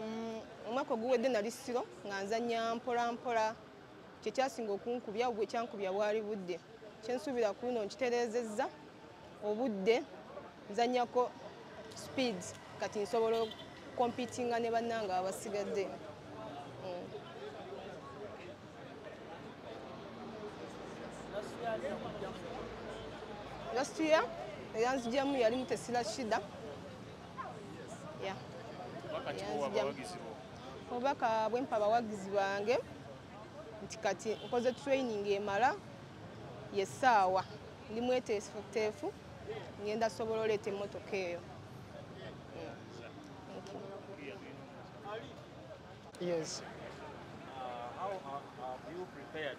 Mm, omwaka oguwedde nali siro nga nzanya mpolampola kyekyasinga okunkubya obw ekyankubya bwali budde kyensuubira ku luno nkitereezezza obudde nzanyako speed kati nsobola okompitinga ne bannanga abasigadde mm. last year eyanzijamu yalimu tesira shida obubaka bwempa abawagizi bange nti kati nkoze training emala yesaawa ndi mweteefuteefu ngenda sobola oleeta emmotoka eyo Yes. Uh, how uh, have you prepared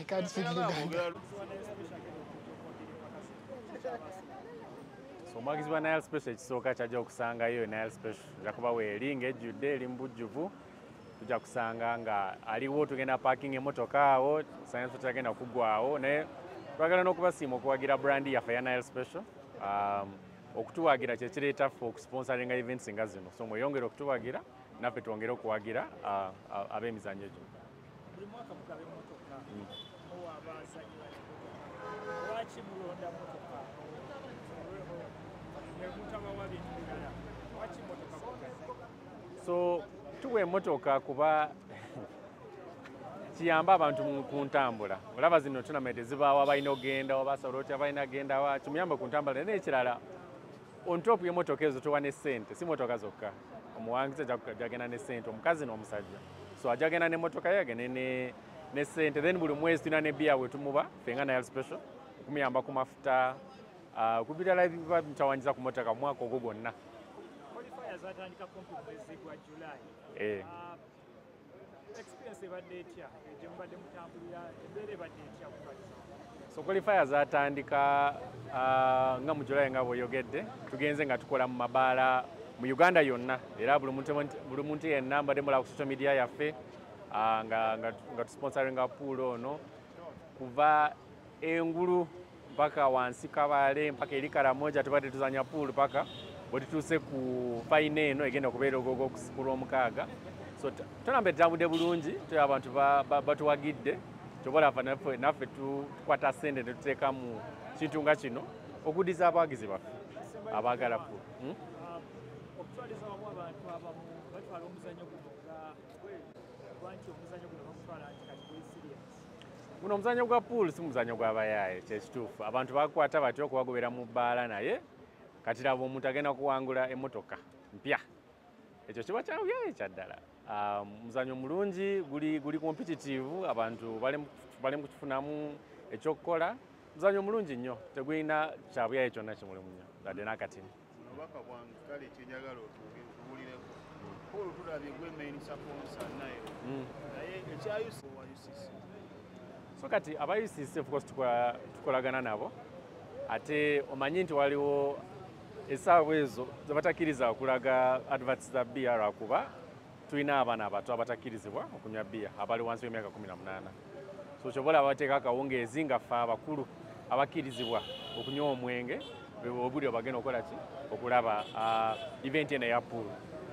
I can't speak Luganda. So omwagizi wa Nile Special ekisooka kyajja okusangayo Nile Special ajja kuba weeri ng'ejjudde eri mu bujjuvu tujja kusanga nga aliwo tugenda parking emotoka awo science tutagenda kugwawo naye twagala n'okubasiima okuwagira brandi yaffe ya Nile Special um, okutuwagira kyekireeta ffe okusponsoringa events nga zino so mweyongere okutuwagira naffe twongere okuwagira uh, uh, ab'emizannyo gino buli mwaka mugaba emmotoka muwa abazanyi lwaki mulonda motoka nemutabawa bintu birala lwaki motoka so tuwa emotoka kuba kiyamba abantu ku ntambula olaba zino tunamete zibaawo abalina ogenda obasobola otya abalina gendawa kimuyamba ku ntambula naye ekirala on top y'emmotoka ezo towa ne ssente si mmotoka zokka omuwangizi ajagenda ne ssente omukazi n'omusajja so ajagenda n'emmotoka ye agende ne ne ssente then buli mwezi tulina ne biya wetumuba fe nga nayal special okumuyamba ku mafuta ah, ku birala biba bitawanyiza ku mmotoka omwaka ogwo gwonna eh. ah, so qualifier zatandika uh, nga mu july nga bweyogedde tugenze nga tukola mu mabaala mu uganda yonna era buli muntu yenna mbadde mulaba ku social media yaffe uh, nga tusponsoringa pool ono kuva engulu mpaka wansi kabale mpaka eri karamoja tubadde tuzanya pool paka bwetutuuse ku fayina eno egenda okubeera ogogo okusikula omukaaga so tonamba etambudde bulungi tuli abantu batuwagidde kyobalaba naffe tukwata sente netuteeka mu kintu nga kino okudiza abawagizi baffe abaagala pool hmm? guno omuzanyo gwa pool si muzanyo gwabayaaye kyekituufu abantu bakwata batya okubagobera mu bbaala naye kati laba omuntu agenda kuwangula emotoka mpya ekyo kiba kyabuyaaye kyaddala ah, muzanyo mulungi guli competitive abantu bali mukukifunamu ekyokukola muzanyo mulungi nnyo tegulina kyabuyaaye kyonna kimulimu nnyo adde nakatini obubaka bwange kale kyenjagala otuwulireko paul tulabye gwe main saponsa naye hmm. naye ekya ucc wa ucc so kati aba ucc ofcourse tukolagana nabo ate omanyi nti waliwo esaawa ezo zebatakiriza okulaga adverts za br akuba tulina abaana abato abatakkirizibwa okunywa bbiya abali wansi w'emyaka 18 so kyoba olaba bateeka akawungeezi nga ffe abakulu abakkirizibwa okunywa omwenge obuli obagenda okukola ki okulaba ah, event eno eya pool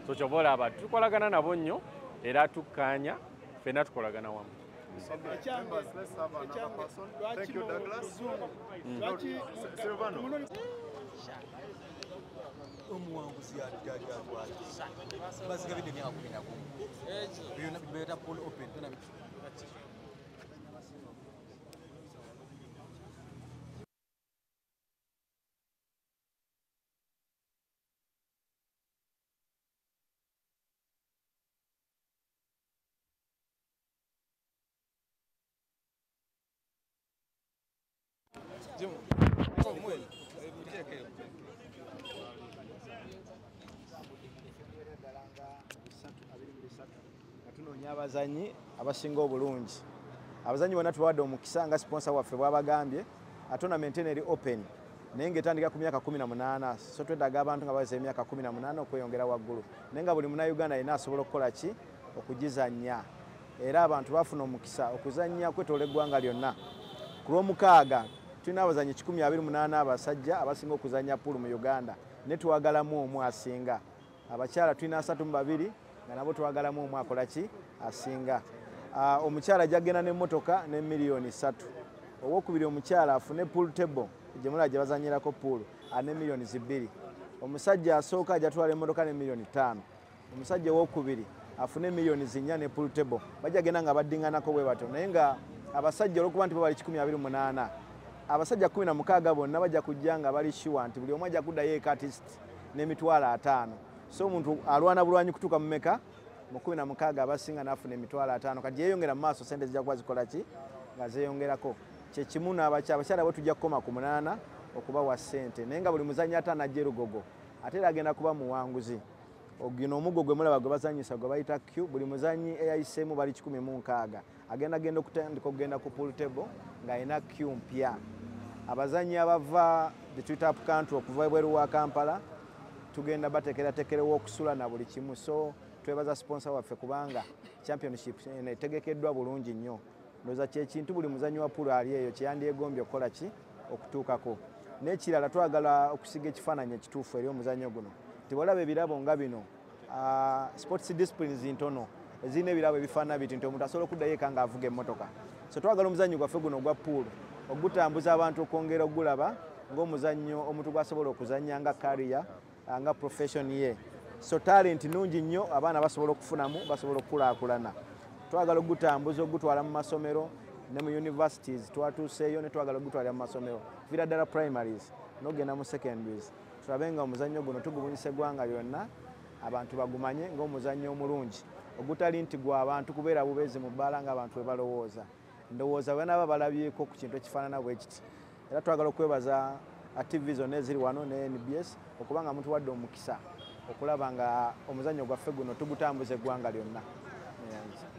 so kyoba olaba tukolagana nabo nnyo era tukkaanya ffenna tukolagana wamu omuwanguzi yaddaali atwaliza baziga bidde myaka kumi na gumu byona bibeera pol open byona biki tunoonya abazanyi abasinga obulungi abazanyi bona tubawadde omukisa nga siponsa waffe bwabagambye atonament eno eri open naye ngaetandika ku myaka 18 so twedaga abantu nga baweza emyaka 18 okweyongera waggulu naye nga buli munauganda yina asobola okukola ki okugizanya era abantu bafuna omukisa okuzannya kwetoola eggwanga lyonna ku lwomukaaga tulina abazanyi 128 abasajja abasinga okuzannya puulu mu uganda ne twagalamu omu asinga abakyala tulina asatu mu babiri nga nabo twagalamu omu akola ki asinga ah, omukyala jagenda nemotoka ne miliyoni satu owokubiri omukyala afune pool table gyemulaba gye bazanyirako pool ane ah, miliyoni zibiri omusajja asooka ajatwala emotoka ne miliyoni ttaano omusajja owokubiri afune millioni zinya ne pool table bajja genda nga baddinganako bwe batyo naye nga abasajja olwokuba nti babali kikumi abiri munaana abasajja kumi na mukaaga bonna bajja kujja nga bali shuwa nti buli omu ajja kuddayo ekatist n'emitwalo ataano so omuntu alwana bulwanyi kutuuka mumeka mu kumi na mukaaga abasinga n'afuna emitwalo ataano kati yeyongera mu maaso sente zijja kuba zikola ki nga zeyongerako kyekimu abakyala bwe tujja kukoma ku munaana okubawa sente naye nga buli muzanyi ataano ajja erugogo ate era agenda kuba muwanguzi ogino omuggo gwe mulaba gwe bazanyisa gwe bayita q buli muzanyi eyayiseemu bali kikumi mu nkaaga agenda genda okutandika okugenda ku pool table ng'alina q mpya abazanyi abava betwita up country okuva ebweru wa kampala tugenda batekeratekerewa okusula na buli kimu so twebaza sponsor waffe kubanga championship etegekeddwa bulungi nnyo ndoza kyekintu buli muzanyi wa pulu ali eyo kyeyandyegombye okukola ki okutuukako n'ekirala twagala okusiga ekifaananyi ekituufu eri omuzanyo guno tibalaba ebirabo nga bino ah, sports disciplines ntono ezirina ebirabo ebifaanana biti nti omuntu asobola okuddayo eka nga avuga emmotoka so twagala omuzannyo gwaffe guno ogwa puulu ogutambuza abantu okwongera okugulaba ng'omuzannyo omuntu gwasobola okuzannya nga kariya nga profession ye so talent nungi nnyo abaana basobola okufunamu basobola okukulaakulana twagala okugutambuza okugutwala mu masomero ne mu universities twatuuseeyo ne twagala okugutwalira mu masomero vira ddala primaries nogenda mu secondaries tulabe nga omuzannyo guno tugubunyisa eggwanga lyonna abantu bagumanye ng'omuzannyo omulungi ogutali nti gwa bantu kubeera bubeezi mu bbaala ng'abantu bwe balowooza ndowooza bwenaaba balabyeko ku kintu ekifaanana bwe kiti era twagala okwebaza uh, tv zonna eziri wano ne nbs okuba nga muntu wadde omukisa okulaba nga omuzannyo gwaffe guno tugutambuza eggwanga lyonna